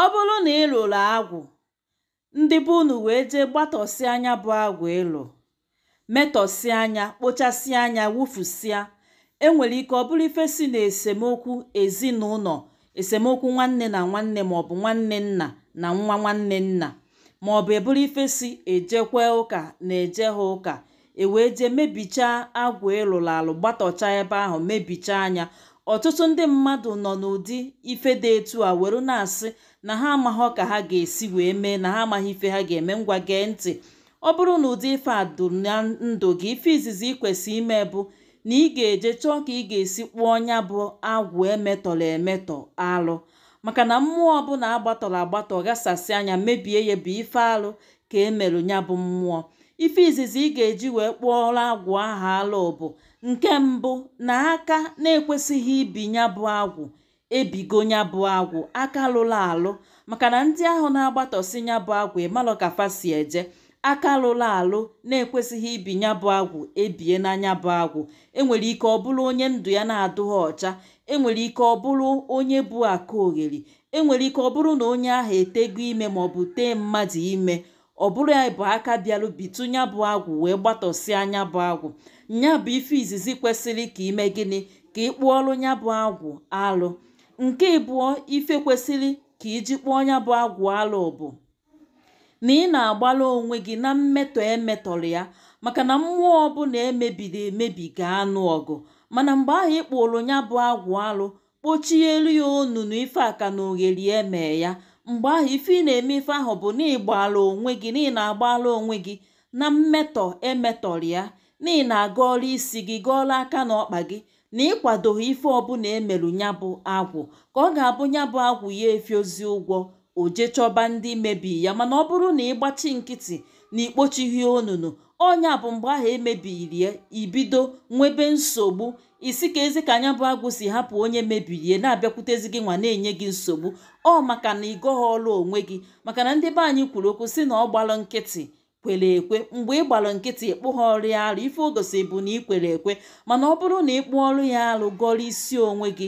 ọ bụrụ na ị lụrụ agwụ ndị be unu wee jee gbatọsịa nya bụ agwụ ị lụ metọsịa nya kpochasịa nya wụfusịa enwere ike ọ bụrụ ife si na esemokwu ezinụlọ esemokwu nwanne na nwanne maọbụ nwanne nna na nwa nwanne nna maọbụ ọ bụrụ ife si ejekwe ụka na ejeha ụka e wee jee mebichaa agwụ ị lụrụ alụ gbatọcha ebe ahụ mebichaa nya ọtụtụ ndị mmadụ nọ n'ụdị ife dị etu a were na-asị na ha amaghị ka ha ga-esi wee mee na ha amaghị ife ha ga-eme ngwa gee ntị ọ bụrụ na ụdị ife a dụ na ndụ gị ife izizi ị kwesịrị ime bụ na ị ga-eje chọọ ka ị ga-esi kpụọ nya bụ agwụ e metọrọ emetọ alụ maka na mmụọ ọbụla a gbatọrọ agbatọ ghasasịa nya mebie ya bụ ife alụ ka e merụ nya bụ mmụọ ife izizi ị ga-eji wee kpụọrọ agwụ aha alụ bụ nke mbụ na aka na-ekwesịghị ibi nya bụ agwụ ebigo nya bụ agwụ aka lụrụ alụ maka na ndị ahụ na-agbatọsi nya bụ agwụ ị malụ ka fa si eje aka lụrụ alụ na-ekwesịghị ibi nya bụ agwụ ebie na nya bụ agwụ enwere ike ọ bụrụ onye ndụ ya na-adụghị ọcha enwere ike ọ bụrụ onye bụ aka ogheri enwere ike ọ bụrụ na onye ahụ etego ime maọbụ tee mmadụ ime ọ bụrụ nya bụ aka bịarụ bitụ nya bụ agwụ wee gbatọsịa nya bụ agwụ nya bụ ife izizi kwesịrị ka i mee gịnị ka ị kpụọrụ nya bụ agwụ alụ nke ịbụọ ife kwesịrị ka i ji kpụọ nya bụ agwụ alụ bụ na ị na-agbara onwe gị na mmetọ emetọrọ ya maka na mmụọ ọbụla e mebiri emebi ga-anụ ọgụ mana mgbe ahụ ị kpụrụ nya bụ agwụ alụ kpochielu ya onunu ife aka na ogheri eme ya mgbe ahụ ife ị na-eme ife ahụ bụ na ị gbara onwe gị na ị na-agbara onwe gị na mmetọ emetọrọ ya na ị na-agọọrọ isi gị gọọrọ aka na ọkpa gị na ị kwadoghị ife ọbụla e merụ nya bụ agwụ ka ọ ga-abụ nya bụ agwụ ya efiozi ụgwọ o jee chọba ndị mebi ya mana ọ bụrụ na ị gbachi nkịtị na i kpochighị onunu ọ nya bụ mgbe ahụ e mebiri ya i bido nwebe nsogbu ị sị kezi ka nya bụ agwụ si hapụ onye mebiri ya na-abịakwutezi gị nwa na-enye gị nsogbu ọ maka na ị gọhọọrụ onwe gị maka na ndị be anyị kwuru okwu sị na ọ gbalụ nkịtị kwere ekwe mgbe ị gbara nkịtị ị kpụhọọrụ ya arụ ife o gosi bụ na ị kwere ekwe mana ọ bụrụ na ị kpụọrụ ya arụ gọrọ isi onwe gị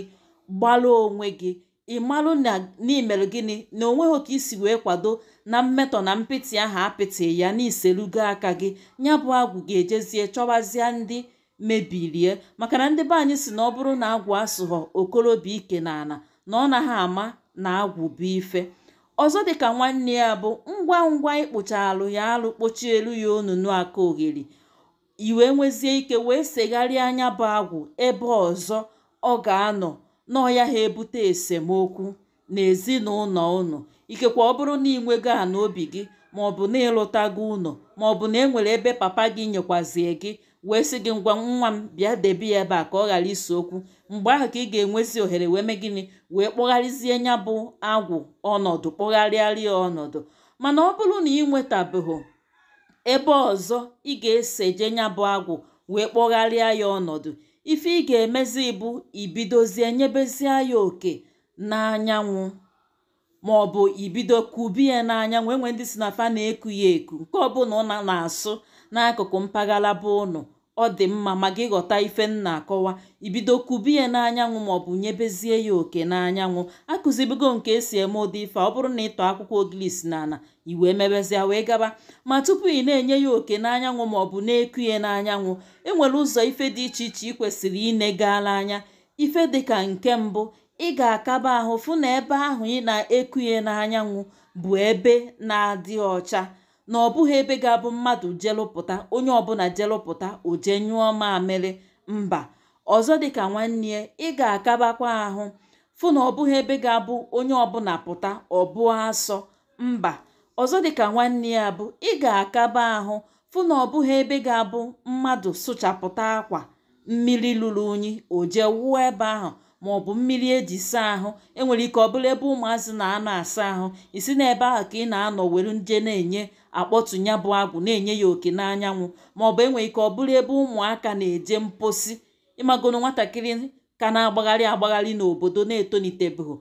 gbara onwe gị ị marụ na i mere gịnị na onweghị ka i si wee kwado na mmetọ na mpịtị ahụ a pịtị ya na i serugo aka gị nya bụ agwụ ga-ejezie chọwazie ndị mebirie maka na ndị be anyị sị na ọ bụrụ na agwụ asụghọ okorobịa ike n'ana na ọ naghị ama na agwụ bụ ife ọzọ dịka nwanne ya bụ ngwa ngwa ị kpụchaalụ ya alụ kpochielu ya onunu aka ogheri i wee nwezie ike wee segharịa nya bụ agwụ ebe ọzọ ọ ga-anọ na ọ yaha ebute esemokwu na ezinụlọ unu ikekwa ọ bụrụ na ị nwego ana obi gị ma ọ bụ na ị lụtago ụnọ ma ọ bụ na e nwere ebe papa gị nyekwazie gị wee sị gị ngwa nwa m bịa debe ya ebe a ka ọ ghara ise okwu mgbe ahụ ka ị ga-enwezi ohere wee mee gịnị wee kpọgharịzie ya bụ agwụ ọnọdụ kpọgharịarị ya ọnọdụ mana ọ bụrụ na ị nwetabeghị ebe ọzọ ị ga-eseje ya bụ agwụ wee kpọgharịa ya ọnọdụ ife ị ga-emezi bụ ibidozie nyebezie ya oke n'anyanwụ ma ọ bụ ibido kube ya n'anyanwụ e nwe ndị sị na fa na-eku ya eku nke ọbụla ụna na-asụ n'akụkụ mpaghara be ụnụ ọ dị mma ma gị ghọta ife m na-akọwa ibido kube ya n'anyanwụ ma ọ bụ nyebezie ya oke n'anyanwụ akụzibugo m ka esi eme ụdị ife ọ bụrụ na ị tọọ akwụkwọ ogilisi na ala i wee mebezie wee gaba ma tupu ị na-enye ya oke n'anyanwụ ma ọ bụ na-eku ya n'anyanwụ enwere ụzọ ife dị iche iche ị kwesịrị inegala anya ife dịka nke mbụ ị ga-akaba ahụ fụ na ebe ahụ ị na-eku ya n'anyanwụ bụ ebe na-adị ọcha na ọ bụghị ebe ga-abụ mmadụ jelụpụta onye ọbụla jelụpụta o jee nyụọ mamịrị mba ọzọ dịka nwanne ya ị ga-akabakwa ahụ fụ na ọ bụghị ebe ga-abụ onye ọbụla pụta ọ bụọ asọ mba ọzọ dịka nwanne ya bụ ị ga-akaba ahụ fụ na ọ bụghị ebe ga-abụ mmadụ sụchapụta akwa mmiri lụrụ unyi o jee wụọ ebe ahụ ma ọ bụ mmiri eji saa ahụ enwere ike ọ bụrụ ebe ụmụazị na-anọ asa ahụ ị sị na ebe ahụ ka ị na-anọ were nje na-enye akpọtụ ya bụ agwụ na-enye ya oke n'anyanwụ ma ọ bụ enwere ike ọ bụrụ ebe ụmụaka na-eje mposi ị magonu nwatakịrị ka na-agbagharị agbagharị n'obodo na etonitebeghị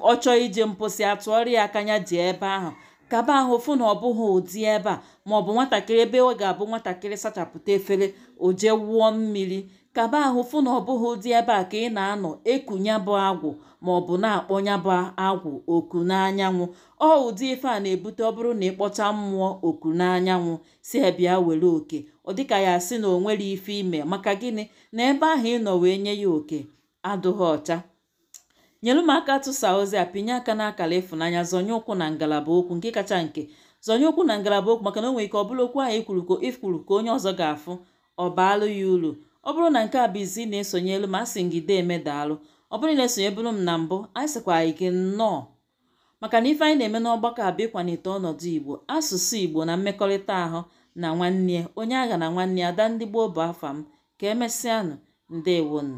ọ chọọ ije mposi a tụọrọ ya aka ya jee ebe ahụ kaba ahụ fụ na ọ bụghị ụdị ebe a ma ọ bụ nwatakịrị ebe ọ ga-abụ nwatakịrị sachapụta efere o jee wụọ mmiri kaba ahụ fụ na ọ bụghị ụdị ebe a ka ị na-anọ eku ya bụ agwụ ma ọ bụ na-akpọ ya bụ agwụ oku n'anyanwụ ọ ụdị ife a na-ebute ọ bụrụ na ị kpọchaa mmụọ oku n'anyanwụ sị ya bịa were oke ọ dịka ya asị na o nwere ife i me maka gịnị na ebe ahụ ị nọ wee nye ya oke adụghị ọcha nyere m aka tụsa ozi a pinye aka n'akara ịfụnanya zọnye ụkwụ na ngalaba okwu nke kacha nke zọnye ụkwụ na ngalaba okwu maka na o nwere ike ọ bụrụ okwu ahụ ikwuru ka ikwuru ka onye ọzọ ga-afụ ọ baalụ ya uru ọ bụrụ na nke a bụ izizi ị na-esonyelu m asị m gị deeme daalụ ọ bụrụ na i sonyeburu m na mbụ anyị sịkwa gị nnọọ maka na ife anyị na-eme n'ọgbakọ a bụ ịkwalite ọnọdụ igbo asụsụ igbo na mmekọrịta ahụ na nwanne onye aghana nwanne ada ndị gboo bụ afa m ka emesịanụ ndewonu